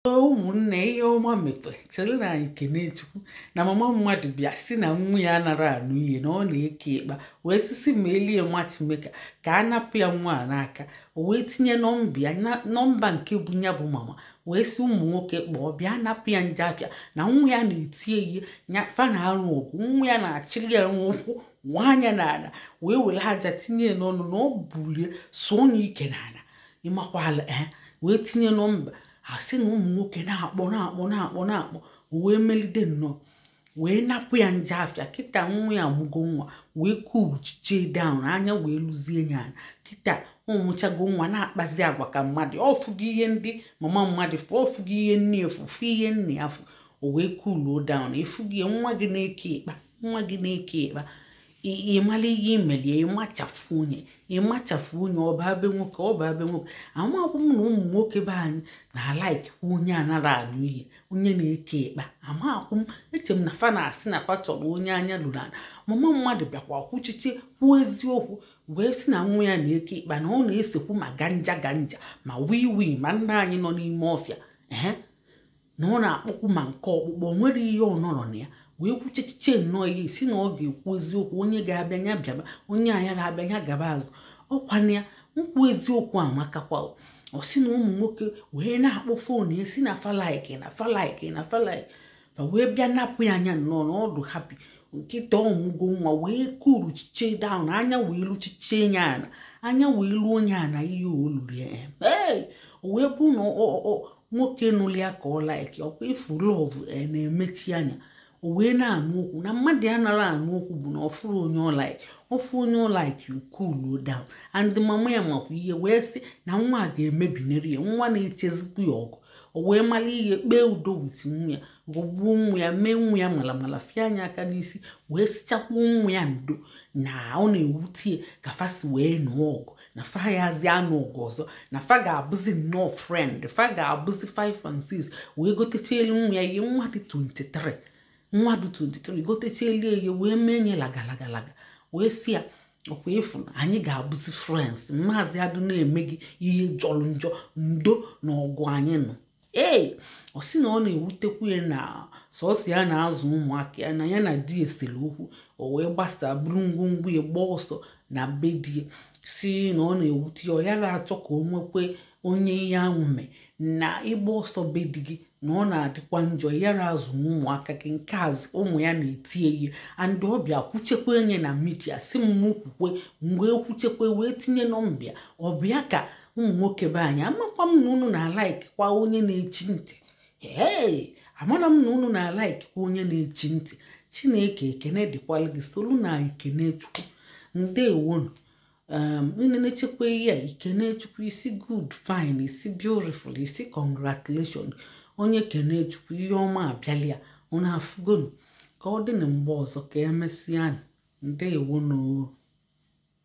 ụmụnne ihe ọma mee chere na anyị kene Chukwu na mama mmadụ bịa si na nwa ya anara anụ ihe na ọ na-eke ịkpa wee sị sị m melie matchmaker ka a napụ ya nwa a n'aka o wee tinye nọmba ya na- nọmba nke bụ ya bụ mama wee si ụmụ nwoke kpọọ bịa napụ ya njọ afịa na nwa ya na-eti ye ihe nya fa na-alụ ọgụ nwa ya na-achịrị ya n'ụkwụ nwa anya n'ala wee were aja tinye ya n'ọnụ na ọ bulie sụọ ya ike n'ala ị makwala ee wee tinye nọmba a sị na ụmụ nwoke na-akpọ na-akpọ na-akpọ na-akpọ o wee melide nnọọ wee napụ ya njọ afịa kịta nwa ya mụgo nwa wee kuchiche down anya wee luzie ya ana kịta ọ mụchago nwa na-akpazi agwa ka mmadụ ọ fụgo ihe ndị mama mmadụ fụ ọ fụgo ihe nne ya fụ ihe nne ya fụ o wee kuluo down ị fụgo ya nwa gị na-eke ịkpa nwa gị na-eke ịkpa ị mala ihe i melie ị machafụ nye ị machafụ nye ọ baa be nwoke ọ baa be nwoke amakwụ m na ụmụ nwoke be anyị na-alaikikwa onye anara anụ ihe onye na-eke ịkpa amakwụ m eche m na fa na-asị na fa chọrọ onye anya lulu ana mama mmadụ bịakwa kwuchiche kwuo eziokwu wee sị na nwa ya na-eke ịkpa na ọ na-esekwu ma ganja ganja ma wii wii ma nna anyị nọ n'ime ọfịa ee na ọ na-akpọkwu ma nke ọkpụkpọ o nwere ihe ọ nọrọ na ya wee kwuchechiche nnọọ ihe si na ọ ga-ekwu eziokwu onye ga-abịa ya bịaba onye agara abịa ya gaba azụ ọ kwa na ya ikwu eziokwu amakakwa o. ọ sị na ụmụ nwoke wee na-akpọ phone ya si na fa like na fa like na fa like fa wee bịa napụ ya nya nnọọ na ọ dụ happy kịta ọ mụgo nwa wee kuluchiche down anya wee luchiche ya ana anya wee luo nye ana ihe o lulu ya ee o wee bụ na ọ- ọ- ọ- nwoke nụlụ ya ka ọ like ọ kwa ị fụ love na-emechi anya o wee na-anụ okwu na mmadụ anara anụ okwu bụ na ọ fụrụ onye ọ like ọ fụ onye ọ like o kuluo down and mama ya makwa ihe wee sị na nwa a ga-emebinere ya nwa na-echezikwu ya ọgụ o wee mara ihe kpee udo with nwa ya ghọgbuo nwa ya mee nwa ya malamala fie nya aka n'isi wee sichakwuo nwa ya ndo na ọ na-ewute ya ka fa si wee nụọ ọgụ na fa yazi anụ ọgụ ọzọ na fa ga-abụzi nnọọ friend fa ga-abụzi 5 and 6 wee gotechelu nwa ya ihe nwa dị 23 nwa dị 23 gotechelu ya wee mee nye lagalagalaga wee si ya ọ kwa ị fụ na anyị ga-abụzi friends m mazị adụ na-eme gị ihe jọrọ njọ ndo na ọgụ anyị nụ ee ọ sị na ọ na-ewutekwu ya na sọsọ ya na-azụ ụmụaka ya na ya na di e sere okwu o wee gbasa buru ngwongwo ya gbaa ọsọ na be di ya si na ọ na-ewute ya ọ yara achọ ka o nwekwe onye ihe ahụ mee na ịgba ọsọ be di gị na ọ na-adịkwa njọ yara azụ ụmụaka gị nke a z- ụmụ ya na-eti ye ihe and ọ bịa kwuchekwe nye na media si m mụ kwukwe mgbe ekwuchekwe wee tinye nọmba ya ọ bịa ka ụmụ nwoke be anyị amakwa m na unu na-alaik kwa onye na-echi ntị ee amara m na unu na-alaik kwa onye na-echi ntị chineke ekene dịkwala gị solunu anyị kene chukwu ndewonu um, onye na-echekwa ihe a i kene chukwu ị sị good fine ị sị beautiful ị sị congratulation onye kene chukwu ihe ọma abịala ya unu afụgonu ka ọ dị na mgbe ọzọ ka emesịa ndewonu